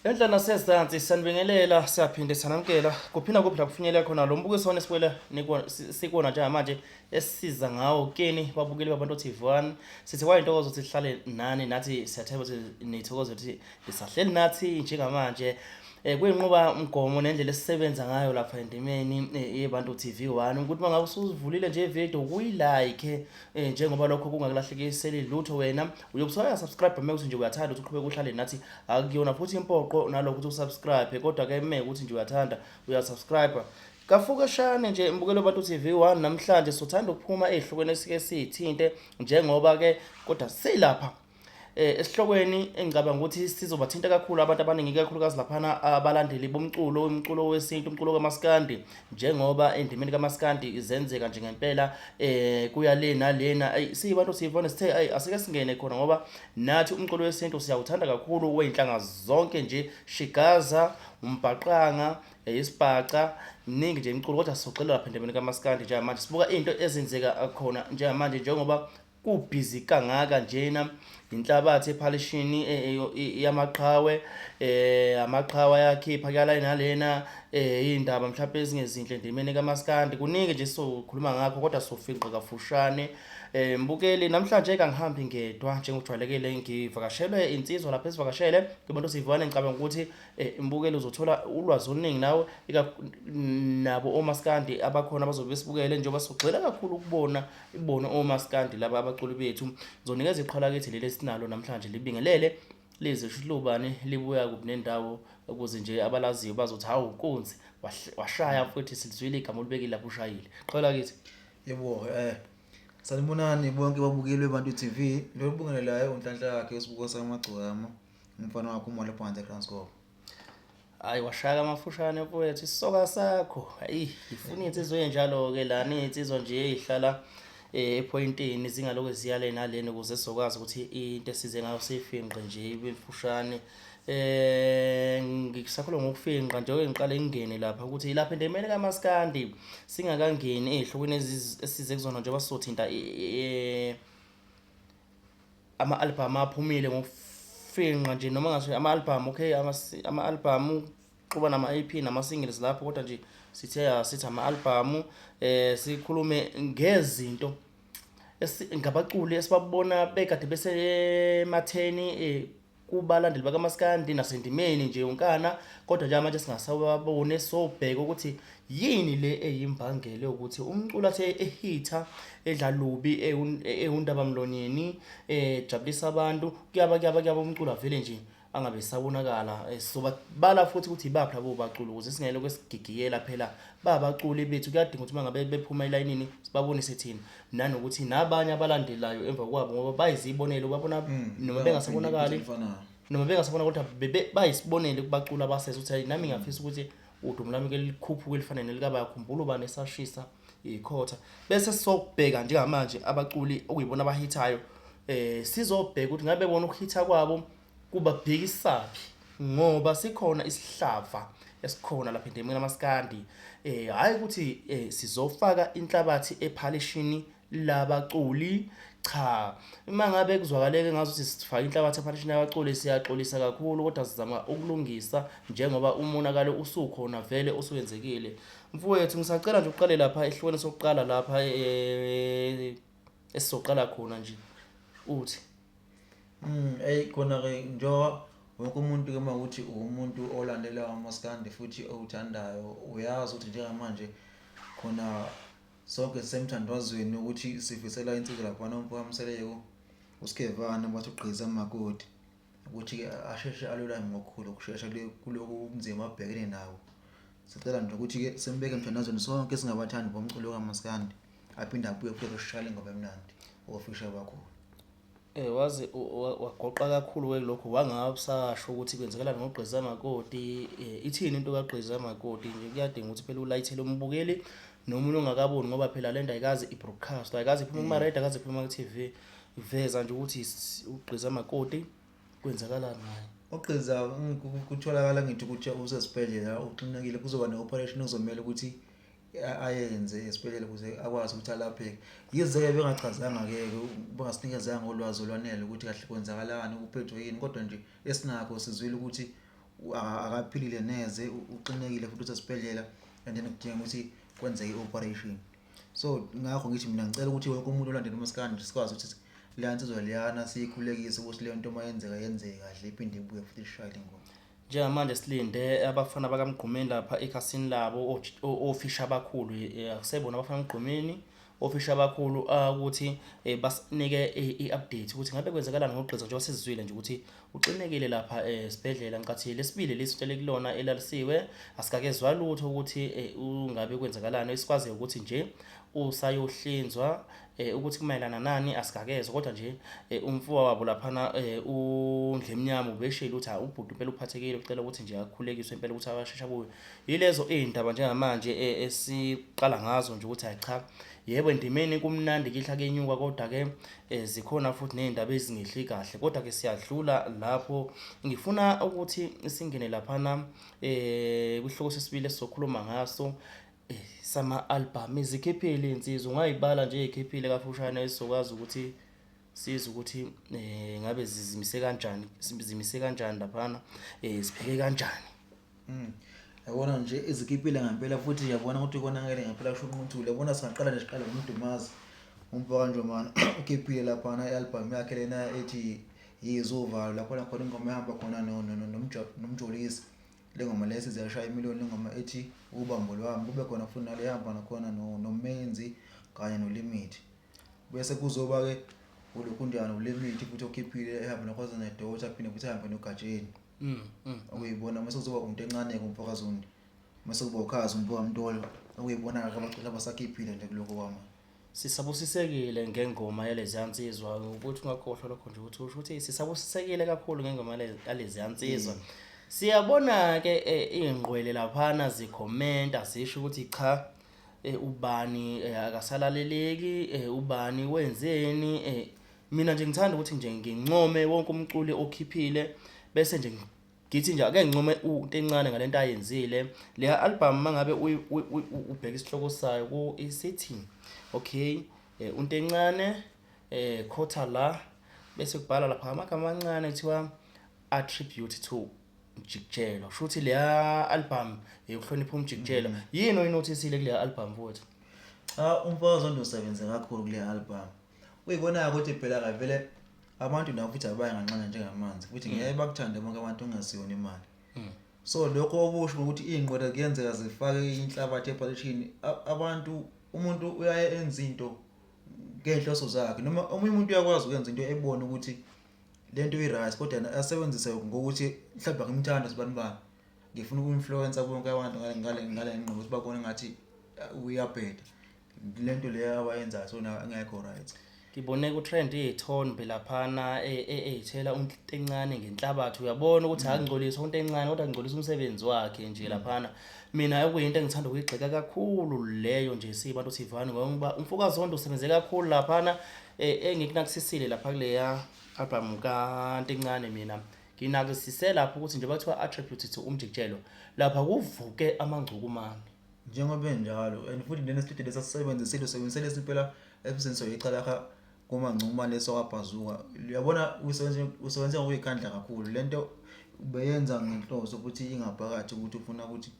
Enhla nasezansi sanibingelela siyaphinde sanamkela kuphi nakuphi la kufinyelela khona lo mbukiso wona esikwela sikwona njengamanje esisiza ngawo kini babukeli babantu TV one sithi kwayintokozo ukuthi sihlale nani nathi siyathemba ukuthi nithokoze ukuthi nisahleli nathi njengamanje eh kuyinqoba umgomo nendlela esisebenza ngayo lapha endimeni eh, yebantu TV one ukuthi mangabe usuzivulile nje video kuyilike eh njengoba lokho kungakulahlekiseli lutho wena uyokusaya subscribe meke ukuthi nje uyathanda ukuthi uqhubeke uhlale nathi akuyona futhi impoqo nalokho ukuthi usubscribe kodwa ke meke ukuthi nje uyathanda uyasubscribe kafukeshane nje mbukelo bantu TV 1 namhlanje sothanda ukuphuma ezihlukweni esike sithinte njengoba ke kodwa silapha Eh, esihlokweni engicabanga ukuthi sizobathinta kakhulu abantu abaningi kakhulukazi laphana abalandeli bomculo umculo wesintu umculo kamaskandi njengoba endimeni kamaskandi izenzeka nje ngempela eh kuya le nalena ayi siyibantu siyivona sithe ayi asike singene khona ngoba nathi umculo wesintu siyawuthanda kakhulu weyinhlanga zonke nje shigaza umbhaqanga eh, isibhaca ningi nje imculo kodwa sizoxelela lapha endimeni kamaskandi njengamanje sibuka into ezenzeka khona njengamanje njengoba kubhizi kangaka njena yinhlabathi ephalishini e, e, e, yamaqhawe eh amaqhawa yakhipha kuyala nalena eh indaba mhlawumbe ezingezinhle ndimene kamaskandi kuningi nje sokhuluma ngakho kodwa sofinqa kafushane eh mbukeli namhlanje kangihambi ngedwa njengojwayelekile ngivakashelwe insizwa lapha esivakashele kubantu sivane ngicabanga ukuthi eh, mbukeli uzothola ulwazi oluningi nawe nabo omaskandi abakhona abazobe besibukele njengoba sigxila kakhulu ukubona Ibona omaskandi laba abaculi bethu. Ngizonikeza iqhola kithi leli esinalo namhlanje libingelele lize shilubane libuya kuphi nendawo ukuze nje abalaziyo bazothi hawu nkunzi washaya futhi silizwile igama olibekile lapho ushayile. Qhola kithi. Yebo eh Sanibonani bonke babukeli beBantu TV. Lo obingelelayo unhlanhla yakhe uSibuko saMagcokama. Umfana wakho uMolephansi eKranskop. Hayi washaya amafushane mfowethu isisoka sakho. Hayi ngifuna insizwa enjalo ke lana insizwa nje ezihlala eh, epointini zingaloku ziyale naleni ukuze sizokwazi ukuthi into esize ngayo sifinqe nje ibefushane. Eh ngisakhula ngokufinqa nje ngiqale ngingene lapha ukuthi ilapha into emele kamaskandi singakangeni ezihlokweni esize kuzona njengoba sothinta eh ama-albhamu aphumile ngokufingqa nje noma ngathi ama-albhamu okay ama-albhamu uxuba nama-ep nama-singles lapho kodwa nje sithe asithi ama-albhamu um eh, sikhulume ngezinto ngabaculi esibabona bekade besematheni um kubalandeli bakamaskandi nasendimeni nje yonkana kodwa njengamanje singasawabone sobheka ukuthi yini le eyimbangela yokuthi umculo athe ehitha edla lubi ewundabamlonyeni ejabulisa abantu kuyaba kuyaba kuyaba umculo avele nje angabe esabonakala sobabala futhi ukuthi ibaphi labo baculi ukuze singayele kwesigigiyela phela babaculi bethu kuyadinga ukuthi mangabe bephuma elayinini sibabonise thina nanokuthi nabanye abalandelayo emva kwabo ngoba bayizibonele babona mm, noma bengasabonakali noma bengasabona kodwa bayisibonele kubacula abasese ukuthi hayi nami ngiyafisa ukuthi udumo lami ke likhuphuke elifanele likabaya khumbula ubani esashisa ikhotha bese sokubheka njengamanje abaculi okuyibona abahithayo eh sizobheka ukuthi ngabe bona ukuhitha kwabo Kubabhekisaphi ngoba sikhona isihlava esikhona lapha endemini lamaskandi eh hayi ukuthi eh, sizofaka inhlabathi ephalishini labaculi cha uma ngabe kuzwakaleke ngazi ukuthi sifaka inhlabathi ephalishini labaculi siyaxolisa kakhulu kodwa sizama ukulungisa njengoba umonakalo usukhona vele osuyenzekile mfowethu ngisacela nje uqale lapha ehlukene sokuqala lapha eh, esizoqala khona nje uthi Eyi khona-ke njengoba wonke umuntu-ke uma ukuthi uwumuntu olandela umaskandi futhi owuthandayo, uyazi ukuthi njengamanje khona sonke sisemthandazweni wokuthi sifisela insizwa laphana uMfokaMseleku, uSkhevane bathi ugqiza makoti ukuthi-ke asheshe alulame ngokukhulu ukushesha kule kuloku ubunzima abhekene nabo. Sicela nje ukuthi-ke simbeke emthandazweni sonke singabathandi bomculo kamaskandi, aphinde abuye futhi azosishayela ingoma emnandi ofisha bakhona. Eh waze wagoqa kakhulu ke lokho wangabusasho ukuthi kwenzekalani ngogqiza makoti eh, ithini into kagqiza makoti nje kuyadinga ukuthi phela ulayithele umbukeli nomunye ongakaboni ngoba phela lento ayikazi ibroadcast ayikazi iphuma kuma radio akaze iphuma ku TV iveza nje ukuthi ugqiza makoti kwenzakalani ngaye ogqiza kutholakala ngithi ukuthi usesibhedlela uxinekile kuzoba ne operation ozomela ukuthi ayenze esibhedlela ukuze akwazi ukuthi alapheke. Yize-ke bengachazanga-ke bengasinikeza ngolwazi olwanele ukuthi kahle kwenzakalani uphethwe yini kodwa nje esinakho sizwile ukuthi akaphilile neze uxinekile futhi usesibhedlela and then kudinga ukuthi kwenzeke i-operation. So ngakho ngithi mina ngicela ukuthi wonke umuntu olandela umaskandi sikwazi ukuthi leya nsizwa leyana siyikhulekise ukuthi le nto uma yenzeka yenzeke kahle iphinde ibuye futhi ishayele ingoma. Njengamanje silinde abafana bakaMgqumeni lapha ekhasini labo ofisha abakhulu eh, akusebona abafana Mgqumeni ofisha abakhulu ah, ukuthi eh, basinike i-update ukuthi ngabe kwenzakalani ngogqiza njengoba sizizwile nje ukuthi uxinekile lapha esibhedlela ngicathi lesibili lesi utshele kulona elalisiwe asikakezwa lutho ukuthi ungabe kwenzakalani esikwaziyo ukuthi nje usayohlinzwa eh ukuthi kumayelana nani asikakezwe kodwa nje eh, umfowa wabo laphana eh, uNdlemnyama ubeshilo ukuthi ha ubhuti impela uphathekile ucela ukuthi nje akhulekiswe impela ukuthi abashesha kuyo yilezo izindaba njengamanje eh, esiqala ngazo nje ukuthi hayi cha yebo endimeni kumnandi kihla kenyuka kodwa ke eh, zikhona futhi nezindaba ezingehli kahle kodwa ke siyadlula lapho ngifuna ukuthi singene laphana eh kwihloko sesibili esizokhuluma ngaso sama-album izikhiphile iy'nsizwa ungay'bala nje ey'khiphile kafushane esizokwazi ukuthi sizwe ukuthi um ngabe zizimise kanjani zimise kanjani laphana um zipheke kanjani mm. yabona nje izikhiphile ngempela futhi yabona ukuthi konakele ngempela kusho unquthule yabona singaqala nje siqale ngomdumazi umbhaka njomana ukhiphile laphana i-album yakhe lena ethi yizuvalo lapho nakhona ingoma ehamba khona nomjolisi Le ngoma lesi ziyashaya imiloni le ngoma ethi ubambo lwami kube khona futhi nale hamba nakhona no, nomenzi kanye nolimit bese kuzoba-ke ulokhunjana ulimit futhi okhiphile ehamba nakhona nedota phinde futhi ehambe nogatsheni mm, mm. okuyibona mase kuzoba umuntu encane-ke umfokazundi mase kuba ukhazi umfokamntolo okuyibona-ke abaculi abasakhiphile nje kuloko kwama Sisabusisekile ngengoma yaleziya nsizwa ukuthi ungakhohlwa lokho nje ukuthi usho ukuthi sisabusisekile kakhulu ngengoma yale- yaleziya nsizwa Mm. siyabona-ke eh, iy'ngqwele laphana zikhomenta zisho ukuthi cha eh, ubani eh, akasalaleleki eh, ubani wenzeni eh, mina nje ngithanda ukuthi nje ngincome wonke umculi okhiphile bese nje ngi- ngithi nje ake nginqume into encane ngale nto ayenzile le album uma ngabe ubheka isihloko sayo ku isithi okay eh, unto encane eh khotha la bese kubhala lapha amagama amancane kuthiwa attribute to umjikijelo kusho ukuthi leya album yokuhlonipha umjikijelo mm. yini oyinothisile kuleya album futhi cha umfokazi ondosebenze kakhulu kuleya album Uyibona-ke ukuthi phela-ke vele abantu nabo futhi abaye nganxanya njengamanzi futhi mm. ngeke bakuthande bonke abantu ungasiyona imali. Mm. So lokho okusho ukuthi iy'nqwele kuyenzeka zifake inhlabathi ephakethini abantu umuntu uyaye enze into ngey'nhloso zakhe noma omunye umuntu uyakwazi ukwenza into ebone ukuthi le nto i-right kodwa asebenzise ngokuthi mhlawumbe ngimthanda sibani bani ngifuna uku-influencer bonke abantu ngale ngqondo ukuthi babone ngathi uyabheda lento leyo awayenzayo so ngekho right ngibone ku-trend iy'thombe laphana ey'thela e, e, unto encane ngenhlabathi uyabona ukuthi akungcolisi unto encane kodwa kungcolisa umsebenzi wakhe nje mm. laphana mina okuyinto engithanda ukuyigxeka kakhulu leyo nje siyibantu sivane ngoba umfokazondo usebenze kakhulu laphana e, engikunakisisile lapha kuleya albhamu kanto encane mina nginakisise lapho ukuthi nje bathiwa attribute to umjikijelo lapha kuvuke amangcukumane Njengoba enjalo and futhi lena studio lesa sisebenzisile usebenzise lesi impela episode soyicala kha kuma ncuma leso kabhazuka uyabona usebenze usebenze ngokuyikhandla kakhulu lento ubeyenza ngenhloso ukuthi ingaphakathi ukuthi ufuna ukuthi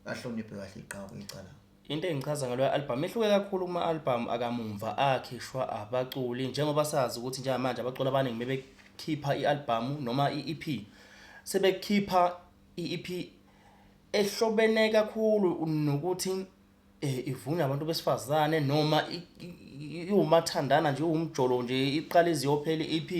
ahloniphe kahle iqhawe icala into engichaza ngalo album ihluke kakhulu kuma album akamumva akhishwa abaculi njengoba sazi ukuthi njengamanje abaculi abaningi bebekhipha ialbum noma iEP sebekhipha iEP ehlobene kakhulu nokuthi eh, ivunywa abantu besifazane noma iwumathandana nje uwumjolo nje iqala iziyophela EP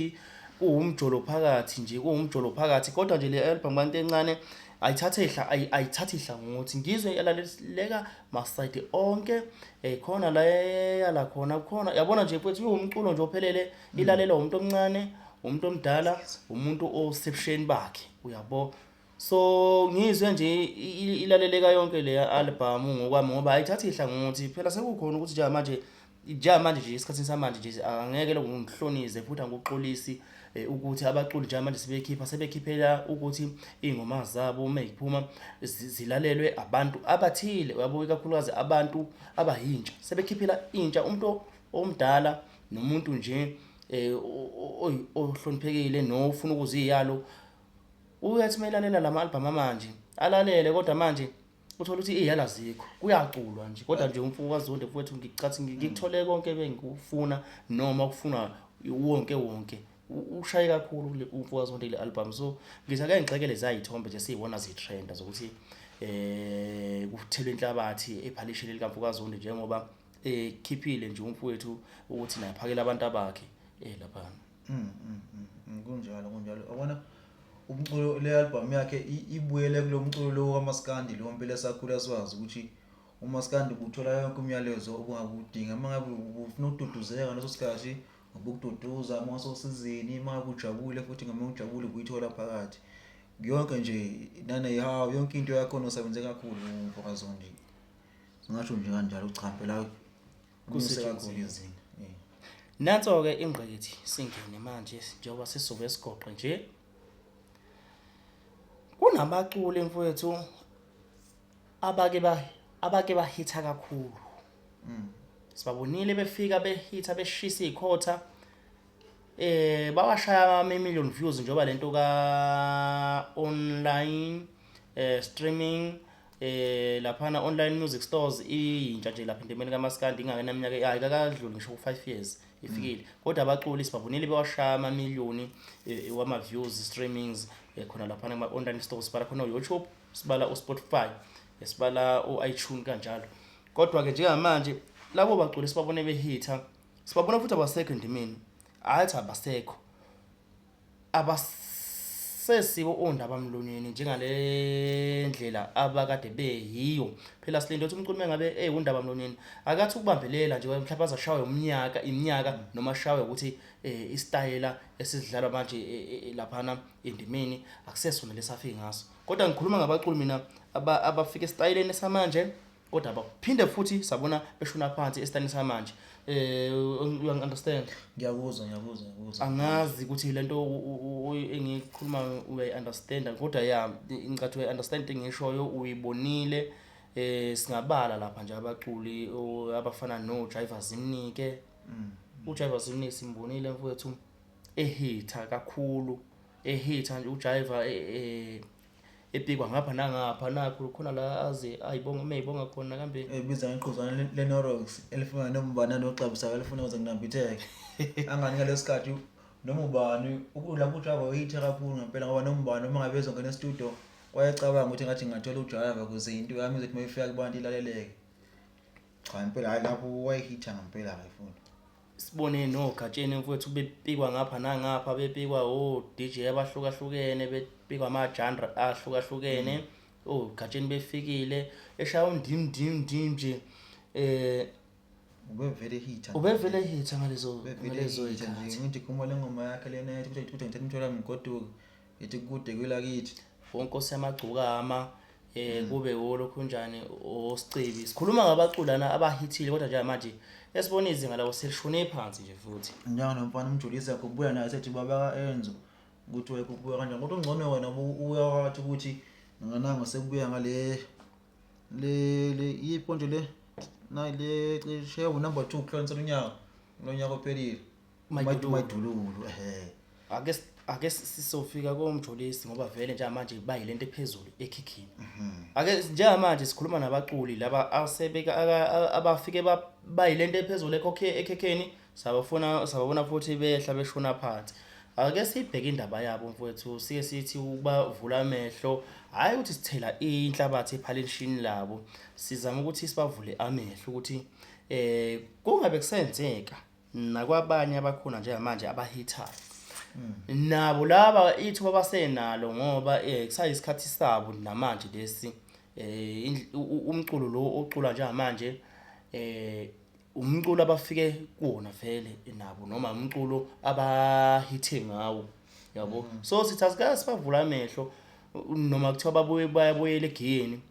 kuwumjolo phakathi nje kuwumjolo phakathi kodwa nje le album kanti encane ayithathe ihla ayithathe ihla ngokuthi ngizwe yalaleleka masayidi onke eh khona la yala khona khona yabona nje mfethu uwumculo nje ophelele mm. ilalelwa umuntu omncane umuntu omdala umuntu osebsheni bakhe uyabo So ngizwe nje i- i- ilaleleka yonke leya album ngokwami ngoba ayithathi ihlangothi. Phela sekukhona ukuthi njengamanje njengamanje nje esikhathini samanje nje angeke lokho ngihlonize futhi angikuxolisi eh, ukuthi abaculi njengamanje sebekhipha sebekhiphela ukuthi ingoma zabo uma iphuma zi- zilalelwe abantu abathile uyabo ikakhulukazi abantu abayintsha sebekhiphela intsha umuntu omdala nomuntu nje eh, o- o- oy- ohloniphekile nofuna ukuziyalo Uyathi uma elalela la ma-albhamu amanje alalele kodwa manje uthole ukuthi iy'yalo azikho kuyaculwa nje kodwa nje umfuko kazonde mfowethu ngicathi ngi- ngikuthole konke bengikufuna noma okufunwa wonke wonke U- ushaye kakhulu kule- umfuko kazonde kule albhamu so ngithi ake ngixekele zayithombe nje siyibona zithrenda zokuthi eh kuthelwe inhlabathi ephalishini likamfuko kazonde njengoba ekhiphile nje umfowethu ukuthi naye phakela abantu abakhe eh laphana Mm, mm, mm, mm, kunjalo kunjalo yabona umculo le album yakhe i- ibuyele kulo mculo lo kamaskandi lo mpela sakhula siwazi ukuthi umaskandi ubuthola yonke umyalezo obungakudinga uma ngabe ufuna ukududuzeka ngaleso sikhathi ngokukududuza uma ngasosizini uma ngabe ujabule futhi ngama ujabule ubuyithola phakathi yonke nje naneyihawu yonke into yakhona usebenze kakhulu umfokazondi singasho nje kanjalo uchampela kunyuse kakhulu izinga eh. nanso-ke ingqikithi singene manje njengoba sisuke esigoqe nje kunabaculi mfowethu abake ba abake bahitha kakhulu mm. sibabonile befika behitha beshisa ikhotha eh bawashaya ama million views njengoba lento ka online eh streaming eh laphana online music stores iyintsha nje lapha entemeni kamaskandi ingakena iminyaka hayi kakadluli ngisho ku5 years ifikile mm. kodwa abaculi sibavunile bewashaya ama million eh, wama views streamings eh, khona lapha kuma online stores sibala khona uYouTube sibala uSpotify eh, sibala uiTunes kanjalo kodwa ke njengamanje labo baculi sibabone behitha sibabona futhi abasekho endimeni athi abasekho abasesibo ondaba mlonyeni njengale ndlela abakade beyiyo phela silinde ukuthi umculi mengabe ewundaba mlonyeni akathi ukubambelela nje mhlawumbe azashawe umnyaka iminyaka noma ashawe ukuthi eh, isitayela esidlalwa manje eh, eh, eh, laphana endimeni akusesona lesafike ngaso kodwa ngikhuluma ngabaculi mina aba- abafika esitayeleni samanje kodwa baphinde futhi sabona beshona phansi esitani samanje eh you understand ngiyakuzwa ngiyakuzwa ngiyakuzwa angazi ukuthi lento engikhuluma uyayi understand kodwa ya ngicathu uyayi understand engishoyo uyibonile eh singabala lapha nje abaculi abafana no driver zimnike mm. u driver zimnike simbonile mfowethu ehitha kakhulu ehitha nje u driver eh, eh epikwa ngapha nangapha nakho khona la aze ayibonga uma eyibonga khona kambe ebiza ngeqhuzana le- lenorox elifana nombana noxabusa kalifuna kuze kunambitheke angani ngaleso sikhathi noma ubani ukudla kujava uyithe kakhulu ngempela ngoba noma ubani uma ngabe ezongena estudio wayecabanga ukuthi ngathi ngingathola ujava kuze into yami izothi uma ifika kubantu ilaleleke cha impela hhayi lapho wayehitha ngempela-ke futhi sibone nogatsheni mfowethu bepikwa ngapha nangapha bepikwa o-dj abahlukahlukene bepikwa ama-genre ahlukahlukene mm. ogatsheni befikile eshaya undim ndim ndim nje eh ubevele hitha ubevele hitha ngalezo ngalezo ikhathi ngithi khumula ingoma yakhe lena ethi kuthi ngithatha umthola mgoduka ngithi kude kwelakithi wonkosi yamagcokama eh mm. kube wolokhu njani osicebi sikhuluma ngabaculi lana abahithile kodwa njengamanje esibona izinga lawo selishone phansi nje futhi njalo nomfana umjulisi yakho ubuya naye sethi baba enzo ukuthi wayekubuya kanjani kodwa ungcono wena ubuya wathi ukuthi nganango sekubuya ngale le le iponje le nayi le cishe unumber 2 kuhlonisa lonyaka lonyaka ophelile Umayidu- umayidululu ehe ake s- ake s- sisofika komjolisi ngoba vele njengamanje bayile nto ephezulu ekhikhini ake s- njengamanje sikhuluma nabaculi laba asebeka aka- a- abafike ba- bayile nto ephezulu ekhokhe- ekhekheni sabafuna sababona futhi behla beshona phansi ake sibheke indaba yabo mfowethu sike sithi ubavula amehlo hhayi ukuthi sithela inhlabathi ephalenishini labo sizama ukuthi sibavule amehlo ukuthi um kungabe kusenzeka nakwabanye abakhona njengamanje abahithayo mm. nabo laba ithuba basenalo ngoba um kusayisikhathi sabo namanje lesi um umculo lo ocula njengamanje um umculo abafike kuwona vele nabo noma umculo abahithe ngawo yabo mm. so sithi asikaze sibavula amehlo noma kuthiwa babuye bayabuyela egiyeni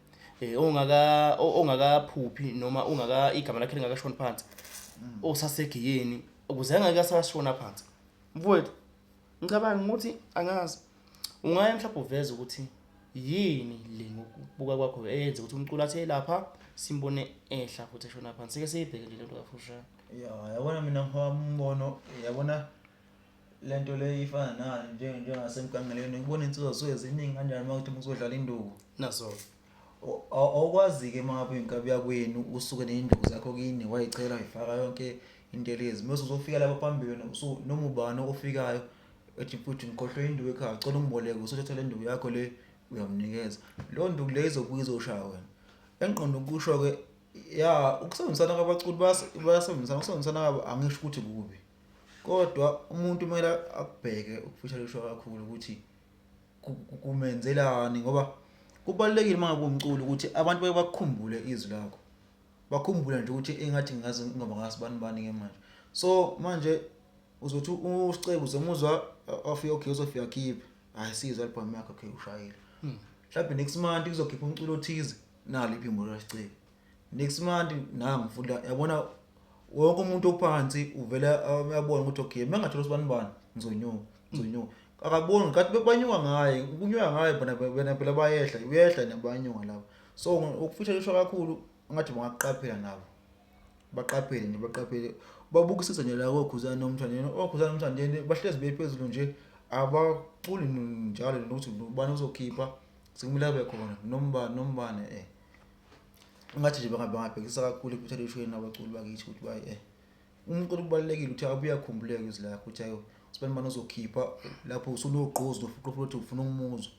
eh, ongaka ongakaphuphi noma ungaka igama lakhe lingakashoni phansi mm. osasegiyeni ukuze angeke asashona phansi mfowethu ngicabanga ukuthi angazi ungaya mhlawumbe uveze ukuthi yini le ngokubuka kwakho eyenze ukuthi umculo athe lapha simbone ehla futhi eshona phansi sike siyibheke nje lento kafushane ya yabona mina ngihamba umbono yabona Le nto le ifana nani nje- njengasemgangelweni ukubona insizwa zisuke ziningi kanjani uma kuthi muzodlala induku nazo Aw- aw- awukwazi-ke uma ngabe uyinkabi yakwenu usuke ney'nduku zakho kini wayichela wayifaka yonke intelezi mese uzofika lapho phambili wena usu- noma ubani ofikayo ethi mfwethu ngikhohlwe induku ekhaya cela ungiboleke usuthatha le nduku yakho le uyamnikeza leyo nduku leyo izobuye izoshaya wena engiqonde ukusho-ke ya ukusebenzisana kwabaculi bayas- bayasebenzisana ukusebenzisana kwabo angisho ukuthi kubi Kodwa umuntu kumele akubheke ukufisa kusho kakhulu ukuthi kumenzelani ngoba kubalulekile uma ngabe umculo ukuthi abantu baye bakukhumbule izwi lakho. Bakhumbule nje ukuthi engathi ngazi ngoba ngasibani bani ke manje. So manje uzothi uScebo uzomuzwa afike okay uzofika khiphe. Hayi sizwe album yakhe okay ushayile. Hmm. Mhlawumbe next month kuzokhipha umculo othize nalo iphimbo laScebo. Next month nangu futhi yabona wonke umuntu ophansi uvele uyabona ukuthi okay uma ngathola usibani bani ngizonyuka ngizonyuka akaboni ngathi bebanyuka ngaye kunyuka ngaye bona bona phela bayehla uyehla nabanyuka labo so ukufisha lisho kakhulu ngathi bangaqaphela nabo baqaphele nje baqaphele babukisise nje la kokhuzana nomthandeni okhuzana nomthandeni bahlezi bephezulu nje abaculi njalo nokuthi ubani uzokhipha sekumele abe khona nombani nombani eh Ngathi nje bangabhekisa kakhulu ekuthelishweni abaculi bakithi ukuthi bayi eh umculo kubalulekile ukuthi abuye akhumbuleke izwi lakhe ukuthi ayo sibani bani ozokhipha lapho usunogqozi nofuqu futhi ufuna umuzwa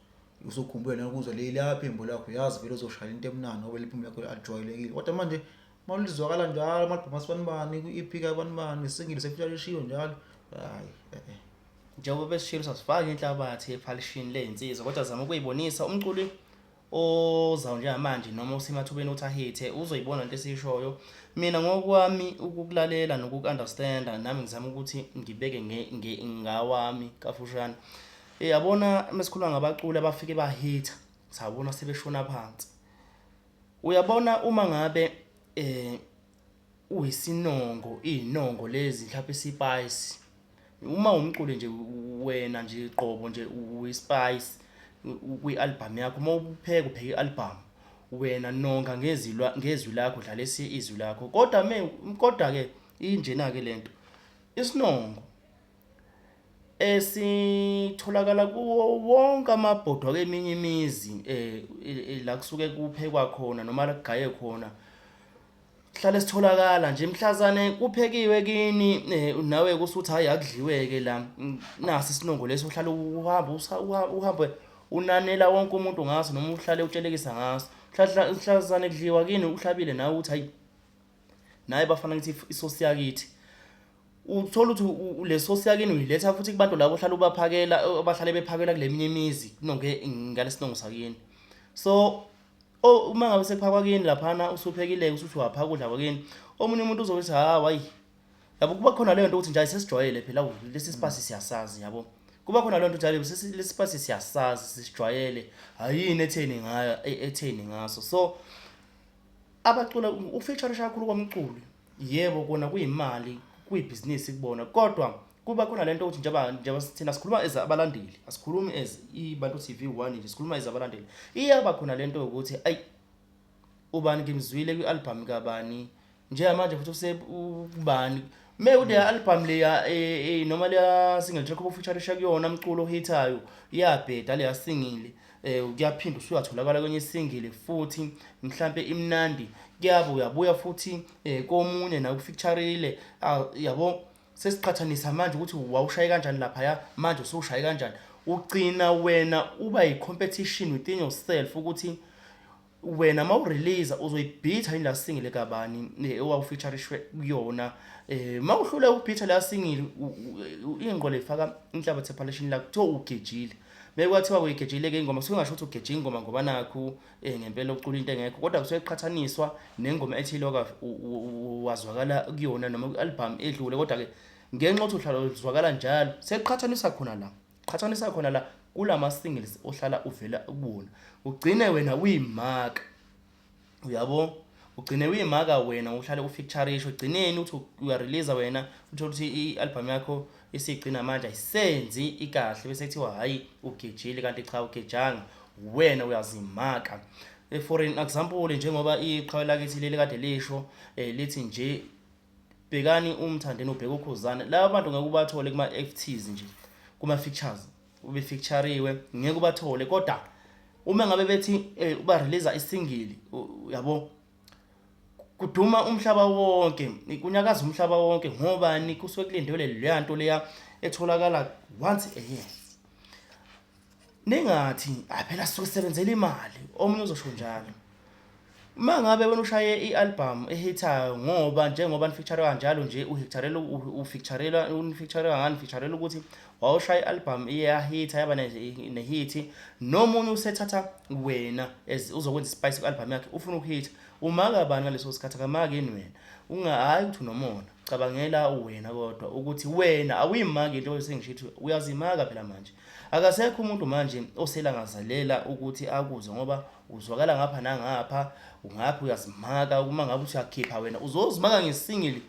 usukhumbule nokuzwa leli aphimbo lakho yazi vele uzoshaya into emnandi ngoba liphimbo lakho alijwayelekile kodwa manje uma lizwakala njalo amagquma sibani bani kwi-EP kabani bani singile sefika lishiwo njalo hayi eh, eh. njengoba besishilo sasifaka inhlabathi ephalishini ley'nsizwa kodwa zama ukuyibonisa umculi ozayo njengamanje noma usemathubeni ukuthi ahithe uzoyibona into esiyishoyo mina ngokwami ukukulalela nokuku-understanda nami ngizama ukuthi ngibeke ngawami kafushane eh, yabona mesikhuluma ngabaculi abafike bahitha sabona sebeshona phansi uyabona uma ngabe eh uyisinongo iyinongo lezi mhlawumpe i-spice. Uma umculi nje wena nje qobo nje uyi-spice kwi-album yakho, uma upheka upheka i-album wena nonga ngezwi ngezwi lakho dlalisa izwi lakho kodwa kodwa-ke injena-ke le nto isinongo. Eh sitholakala kuwo wonke amabhodwe akweminye imizi eh la kusuke kuphekwa khona noma la kugaywe khona, sihlale sitholakala nje mhlazane kuphekiwe kini nawe kusuthi hhayi akudliwe-ke la nasi isinongo lesi uhlale uhamba uhambe unanela wonke umuntu ngaso noma uhlale utshelekisa ngaso. Mhlazane kudliwa kini uhlabile nawe uthi hhayi, nawe bafana ngithi isosi yakithi Uthola ukuthi le source yakini uyiletha futhi kubantu labo ohlala ubaphakela abahlale bephakela kule minye imizi kunonke ngale sinongo sakini. So o uma ngabe sekuphakwa kini laphana usuphekile usuthi waphaka ukudla kwakini omunye umuntu uzokuthi ha wayi yabo kuba khona leyo nto ukuthi nje sesijwayele phela lesi sipasi siyasazi yabo kuba khona leyo nto njalo lesi sipasi siyasazi sisijwayele hayini etheni ngayo e, etheni ngaso so abacula ufeature kakhulu komculi yebo kona kuyimali kuyibhizinisi kubona kodwa kuba khona lento ukuthi njengoba njengoba sithina sikhuluma as abalandeli asikhulumi as ibantu TV 1 nje sikhuluma as abalandeli iyaba khona lento ukuthi ay ubani ngimzwile kwi album kabani njengamanje futhi use ubani Me ude album leya eh, eh noma leya single track obufeature kuyona umculo ohithayo iyabheda leya singile. eh kuyaphinda usuyatholakala kwenye isingile futhi mhlambe imnandi kuyabe uyabuya futhi eh komunye na ukufeatureile ah, yabo sesiqhathanisa manje ukuthi wawushaye kanjani lapha ya manje usewushaye kanjani ugcina wena uba yicompetition within yourself ukuthi wena ma urelease uzoyibhitha ila single kabani eh, ewawufeaturishwe kuyona eh ma uhlule ukubhitha la single ingqo lefaka inhlabathi ephalishini la kuthiwa ugejile bekwathiwa uyigejile ke ingoma kusuke ngasho ukuthi ugeje ingoma ngoba nakho eh, ngempela ucula into engekho kodwa kusuke kuqhathaniswa nengoma ethile oka wazwakala kuyona noma ku-album edlule kodwa ke ngenxa ukuthi uhlala uzwakala njalo sekuqhathaniswa khona la qhathanisa khona la kulama singles ohlala uvela kubona ugcine wena uyimaka uyabo ugcine uyimaka wena uhlale ufeaturisha ugcineni uthi uyareleasa wena uthole ukuthi i-albhamu yakho isigcina manje ayisenzi ikahle bese kuthiwa hhayi ugejile kanti cha ugejanga wena uyazimaka eh, for an example njengoba iqhawe lakithi leli kade lisho um lithi nje bhekani umthandeni ubheka ukhuzane laba bantu ngeke ubathole kuma FTs nje kuma features ube featureriwe ngeke ubathole kodwa uma ngabe bethi eh, uba release isingili yabo kuduma umhlaba wonke kunyakaza umhlaba wonke ngobani kusuke kulindelwe leya nto leya etholakala once a year Ningathi ah phela suke sebenzela imali omunye uzosho njalo. Mangabe wena ushaye ialbum ehithayo ngoba njengoba nifeature kanjalo nje uhitharela ufeaturela unifeaturela ngani featurela ukuthi wawushaya ialbum iyahitha yaba nehithi nomunye usethatha wena as uzokwenza ispice kualbum yakhe ufuna ukuhitha umaka bani ngaleso sikhathi akamaki yini wena ungahayi ukuthi unomona cabangela wena kodwa ukuthi wena awuyimaki into sengishithi uyazimaka phela manje Akasekho umuntu manje oselangazelela ukuthi akuze ngoba uzwakala ngapha nangapha, ungaphi uyazimaka uma ngabe usuyakhipha wena uzozimaka ngesingili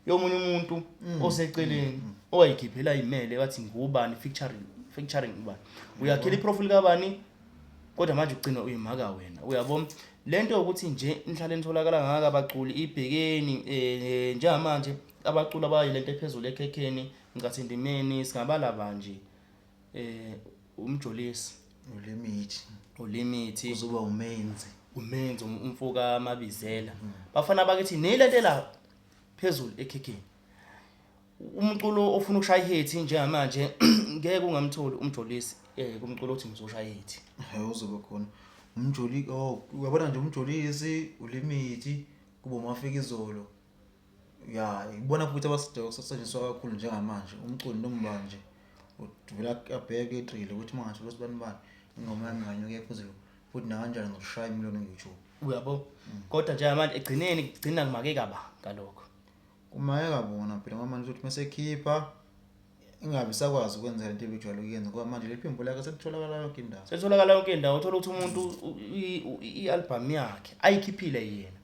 yomunye umuntu mm. oseceleni mm. owayikhiphela imele wathi ngubani featuring featuring ubani. Uyakhela iprofile kabani kodwa manje ugcina uyimaka wena. Uyabo? Lento yokuthi nje inhlale nitholakala ngaka abaculi ibhekeni eh, njengamanje abaculi abayilento ephezulu ekhekheni Ngicatha endimeni singabala banje eh umjolisi ulimithi ulimithi uzoba umenzi umenzi um, umfoka mabizela mm. bafana bakithi nilentela phezulu ekhikhini umculo ofuna ukushaya ihethi njengamanje ngeke ungamtholi umjolisi eh kumculo othi ngizoshaya ihethi hayi uzobe khona umjoli oh uyabona nje umjolisi ulimithi kuba umafika izolo Ya, ngibona futhi abasidinga ukusetshenziswa kakhulu njengamanje umculi noma ubani nje uvele abheke egxile ukuthi uma ngathola usibani bani ingoma yami inganyuka iye phezulu futhi nakanjani ngizoshaya imiliyoni ku-YouTube. Uyabo? Kodwa njengamanje ekugcineni kugcina kumakeka ba ngalokho. Kumayeka bona phela ngoba manje uzothi uma esekhipha ingabe isakwazi ukwenza into ebijwayele ukuyenza ngoba manje leli phimbo lakhe selitholakala yonke indawo selitholakala yonke indawo uthola ukuthi umuntu i-albhamu yakhe ayikhiphile yena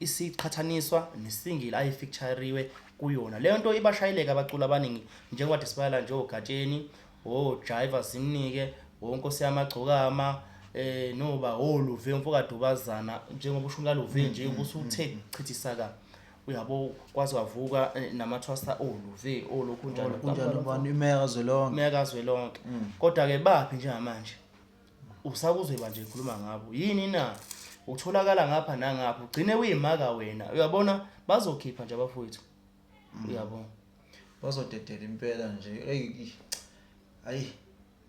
isiqhathaniswa nesingile ayifeatureriwe kuyona leyo nto ibashayeleka abaculi abaningi njengoba disibala nje ogatsheni ojiva zimnike wonkosi yamagcokama eh noba oluve umfokadubazana njengoba ushunka luve nje kusuthe chithisa ka uyabo kwaze kwavuka eh, namathwasa oluve olokhu njalo kunjalo ubani imeya kazwelonke imeya kazwelonke mm. kodwa ke baphi njengamanje usakuzweba nje ikhuluma ngabo yini na utholakala ngapha nangapha ugcine uyimaka wena uyabona bazokhipha nje abafowethu mm. uyabona bazodedela impela nje eyi ayi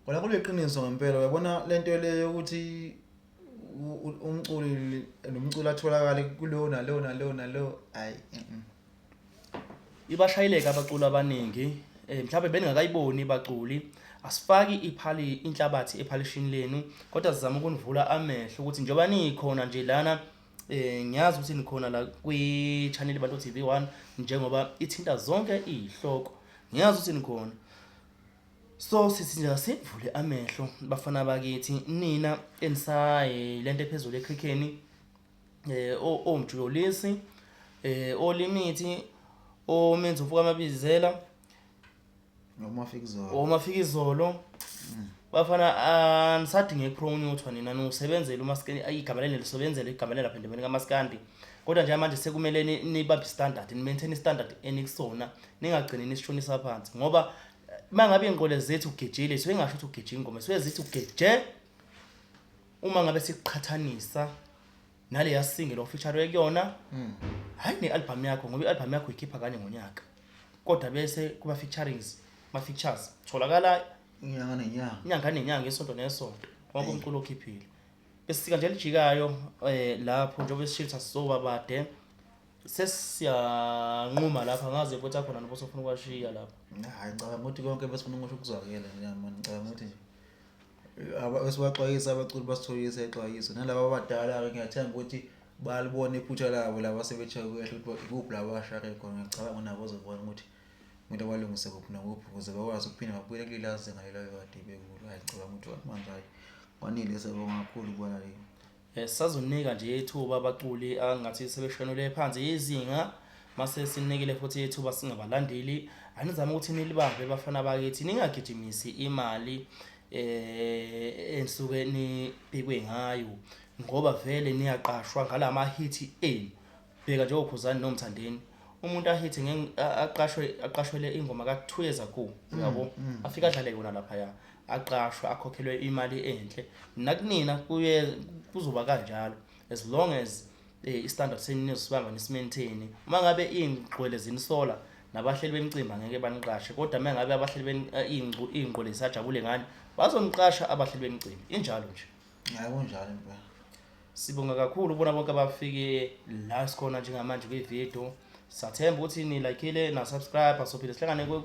Kona kuliqiniso ngempela uyabona lento le yokuthi umculi nomculi atholakale kuleyo naleyo naleyo naleyo hayi ibashayileka abaculi abaningi eh mhlawumbe beningakayiboni baculi asifaki iphali inhlabathi ephalishini lenu kodwa sizama ukunivula amehlo ukuthi njengoba nikhona nje lana eh ngiyazi ukuthi nikhona la kwi channel Bantu TV1 njengoba ithinta zonke izihloko ngiyazi ukuthi nikhona So sisi nje asivule amehlo bafana bakithi nina enisaye lento ephezulu ekhikheni eh omjulisi eh olimithi omenza ufuka amabizela noma fika izolo uma fika izolo bafana anisadinge promoter nina nosebenzela umaskandi ayigama leli lisebenzela igama lelapha endabeni kamaskandi kodwa nje manje sekumele ni- nibambe standard ni maintain standard enikusona ningagcini nisishonisa phansi ngoba uma ngabe ingqole zithi ugejile suke ngasho ukuthi ugeje ingoma suke zithi ugeje uma ngabe siqhathanisa nale yasinge lo feature kuyona hmm. hayi ne-albhamu yakho ngoba i-albhamu yakho ikhipha kanye ngonyaka kodwa bese kuma featurings ma features tholakala inyanga nenyanga inyanga nenyanga isonto nesonto wonke umculo okhiphile besika nje lijikayo eh lapho njengoba sishilo sasizoba bade sesiyanquma lapha ngazi ukuthi akhona noba sofuna ukwashiya lapha hayi ngicabanga ukuthi konke besifuna ukusho kuzwakele niyamona ngicabanga ukuthi esibaxwayisa abaculi basitholisa ixwayiso nalaba abadala-ke ngiyathemba ukuthi balibona iphutha labo laba sebetshaye kuyahle ukuthi ikuphi laba abashake khona ngiyacabanga unabo ozobona ukuthi kumele balungise kuphi nakuphi ukuze bakwazi ukuphinde babuyele kuleli azinga lelo kade bekulo hayi ngicabanga ukuthi manje hayi kwanile sebonga kakhulu kubona leli Eh, sazonika nje ithuba abaculi angathi sebeshonele phansi izinga mase sinikele futhi ithuba singabalandeli anizama ukuthi nilibambe bafana bakithi ningagijimisi imali eh ensuke nibhekwe ngayo ngoba vele niyaqashwa ngalamahithi enu Bheka njengo Khuzani no Mthandeni umuntu ahithe nge aqashwe aqashwele ingoma ka 2 years ago uyabo mm, mm. afika adlale yona lapha ya aqashwe akhokhelwe imali enhle nakunina kuye kuzoba kanjalo as long as eh, i standard senu nizibanga nisimaintain uma ngabe ingqwele zinisola nabahleli bemcimbi angeke baniqashe kodwa uma ngabe abahleli eh, ingqwele sajabule ngani bazoniqasha abahleli bemcimbi injalo nje hayi kunjalo impela Sibonga kakhulu bona bonke abafike la sikhona njengamanje kwivideo. Sathemba ukuthi nilayikhile na-subscribe sophinde sihlangane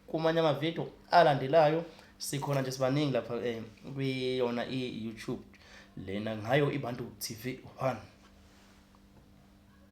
kumanye amavideo alandelayo. Sikhona nje sibaningi lapha eh, kwiyona i-YouTube lena ngayo iBantu TV 1.